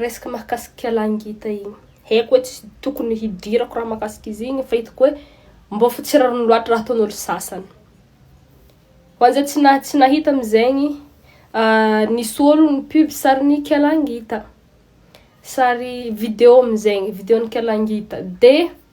Resaka mahakasika lahy ngita igny. Haiko hoe tsy tokony hidirako raha mahakasika izy igny fa hitako hoe mbô fa tsy rariny loatra raha ataon'olo sasany. Ho an'izay tsy, na, tsy nahita am'izegny, uh, nisy olo ni-pub sarin'ny kialangita. Sary video am'izegny, videon'ny kialangita. De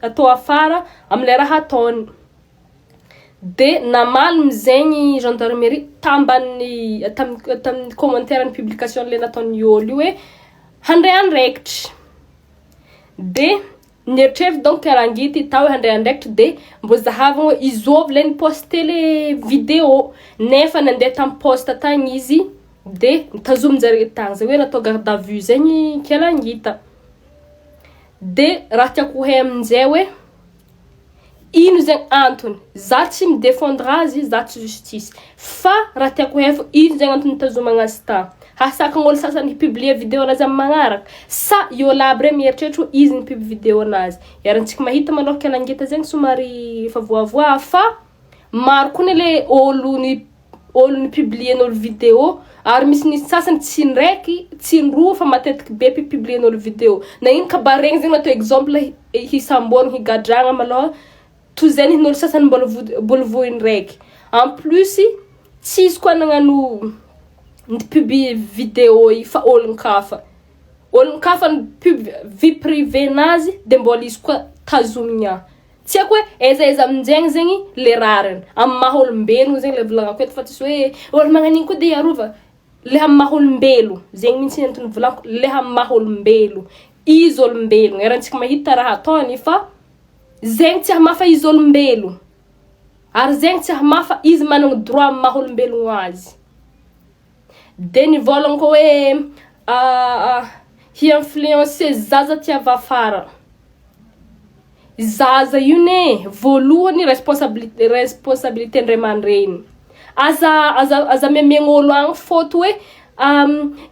tato afara amin'ilay raha ataony. Dia namaly mizay ny gendarmerie tamban'ny tamin'ny tamin'ny commentaire ny publication le nataon'i Yoli io hoe handray andraikitra. Dia nieritreritra donc Rangity tao hoe handray andraikitra dia mbô zahavina hoe izao v'ilay ni-poster le vidéo. Nefa nandeha tamin'ny poste tagny izy dia notazomin-jare tagny, zay hoe natao garde à vue zay ny Kialangita. De raha tiako ho hay amin'izay hoe ino zegny antony, za tsy mi defendre azy, za tsy justice, fa raha tiako hay fô ino zegny antony nitazomagna azy ta, hasakan'ôlo sasany hi publier video anazy am magnaraka, sa i ôlo aby re miheritreritra hoe izy ni-pub video anazy, iharantsika mahita malôha kela ngita zegny somary efa voavoa fa maro koa ne le ôlo ni. olo ny publien'olo video ary misy nisy sasany tsy indraiky tsy indroa fa matetiky be pi publien'olo video na ino kabary regny zegny natao exemple hisamboana higadragna malôha toy zay ny hin'olo sasany mbôla voa- mbôla voa indraiky en plus tsisy koa nagnano ny pub video i fa olon-kafa olon-kafa ny pub vie privée-nazy de mbôla izy koa tazomigna. Tsy haiko hoe aiza aiza aminjegny zegny le rariny. Amin'ny maha olombelogno zegny le volagnako eto fa tsisy hoe olo magnan'igny koa de hiarova. Le amin'ny maha olombelo, zegny mihitsy antony volako, le amin'ny maha olombelo. Izy olombelogno, erantsika mahita raha ataony fa zegny tsy hamafa izy olombelo. Ary zegny tsy hamafa izy managna droit amin'ny maha olombelogno azy. Dia ny volant ko hoe hi influencer zaza tsy avafara. Zaza io ne voalohany responsabilité responsabilité ny ray aman-dreny. Aza aza aza mihamegna olo agny faute hoe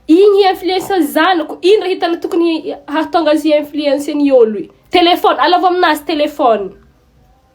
igny hi influencer ny zanako, ino raha hitanao tokony hahatonga azy hi influencer ny olo io. Téléphone, alavo aminazy téléphone.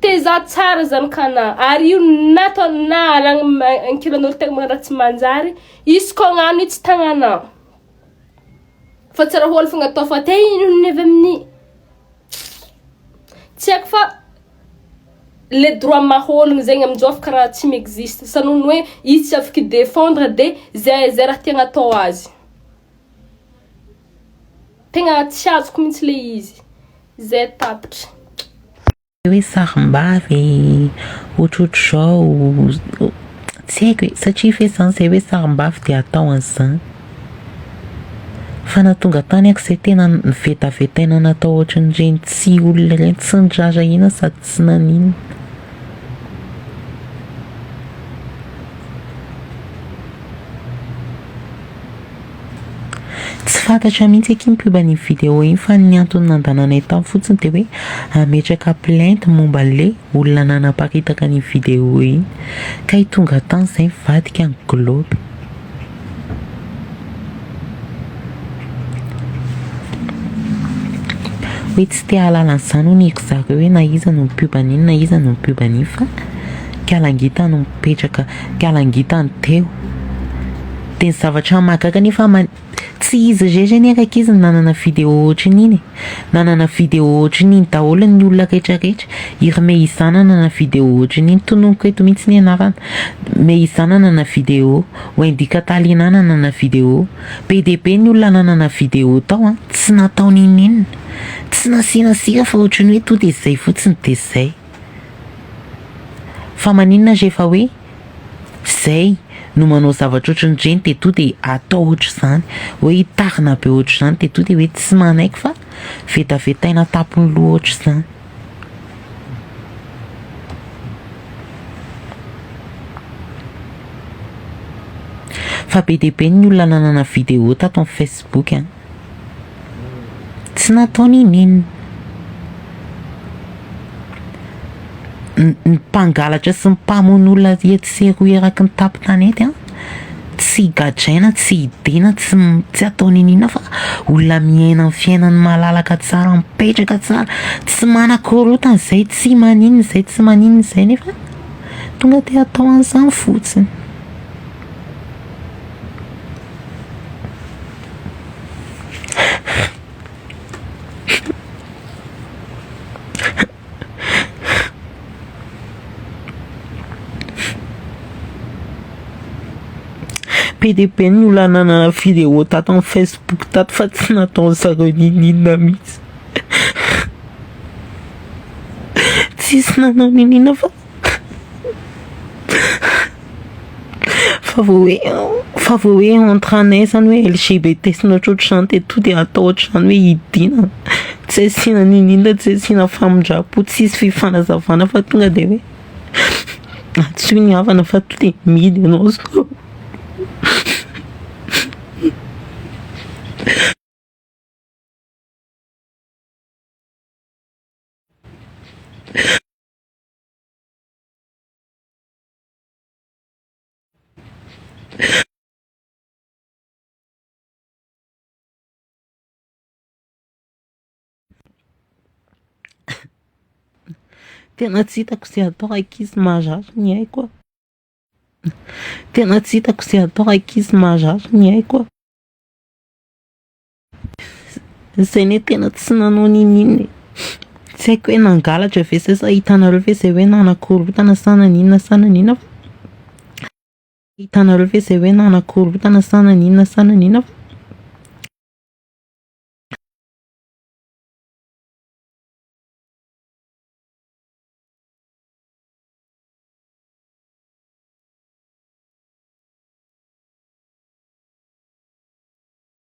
Teza tsara zany kana ary io nato na aragny ankilan'olo tegna magnano raha tsy manjary izy koa agnano io tsy tagnanao fa tsy raha hoany fogna atao fa te hihinohino avy amin'ny tsy haiko fa le droit maha-ologno zegny amin-jao efa karaha tsy mi-existe sa noho ny hoe izy tsy afaka i-defendre de zay zay raha tiagna atao azy. Tegna tsy azoko mintsy le izy ze tapitra. Le hoe sarimbavy otrotry zao tsy haiko e satria ve zany zay hoe sarimbavy de atao an'zany fa na tonga tany aky zay tena nivetavetaina natao ohatrin'ireny tsy olona ireny tsy nirarahiana sady tsy naninona. Tsy fantatra mihitsy akia mpioba an'iny vidéo iny fa ny antony nandananay tao fotsiny dia hoe hametraka plainte momba an'le olona nanaparitaka an'iny vidéo iny. Kay tonga tany izay nivadika ny globe. Hoe tsy te hahalala an'izany hono ry zareo hoe na iza no mpioba an'iny na iza no mpioba an'iny fa kalangita no mipetraka, kalangita no teo. Dia ny zavatra mahagaga anefa ama tsy izy irery anie rankizy no nanana vidéo ohatran'iny e! Nanana vidéo ohatran'iny daholo ny olona rehetra rehetra. I ry Mehiza nanana vidéo ohatran'iny, tononiko eto mihitsy ny anarana. Mehiza nanana vidéo, Wendy Catalina nanana vidéo. Be dia be ny olona nanana vidéo tao an! Tsy natao n'inon'inona. Tsy nasiana sira fa ohatran'ny hoe to dia izay fotsiny dia izay. Fa maninona rehefa hoe. Zay no manao zavatra ohatran'ireny teto de atao ohatr'izany hoe hitahina be ohatr'izany teto de hoe tsy manaiky fa vetavetaina an-tampon'ny loha ohatr'izany. Fa be dia be ny olona nanana vidéo tato amin'ny facebook a. Tsy nataony inon'inona. Ny mpangalatra sy ny mpamono olona etsy sy eroa eraky ny tapon-tanety an, tsy gadraina, tsy hidiana, tsy tsy ataony inon'inona fa olona miaina ny fiainany malalaka tsara, mipetraka tsara, tsy manakorontana izay, tsy maninona izay, tsy maninona izay nefa tonga dia atao an'izany fotsiny. PDB no lanana vidéo tato amin'ny Facebook tato fa tsy nataon'ny zareo n'inon'inona mihitsy. Tsisy nanao n'inon'inona fa. Fa vao hoe fa vao hoe entre anay izany hoe LGBT sy ny ohatrohatr'izany dia tonga dia atao ohatr'izany hoe hidiana, tsy asiana ninoninona, tsy asiana famindram-po, tsy hisy fifanazavana fa tonga dia hoe antsoy ny havana fa tonga dia mihidy ianao sao. Tena tsy hitako izay atao ankizy marary ny aiko a. Tena tsy hitako izay atao ankizy marary ny aiko a. Zay ne tena tsy nanao n'inon'inona e. Tsy haiko hoe nangalatra ve zay sa hitanareo ve zay hoe nanakorontana sa naninona sa naninona fa hitanareo ve zay hoe nanakorontana sa naninona sa naninona fa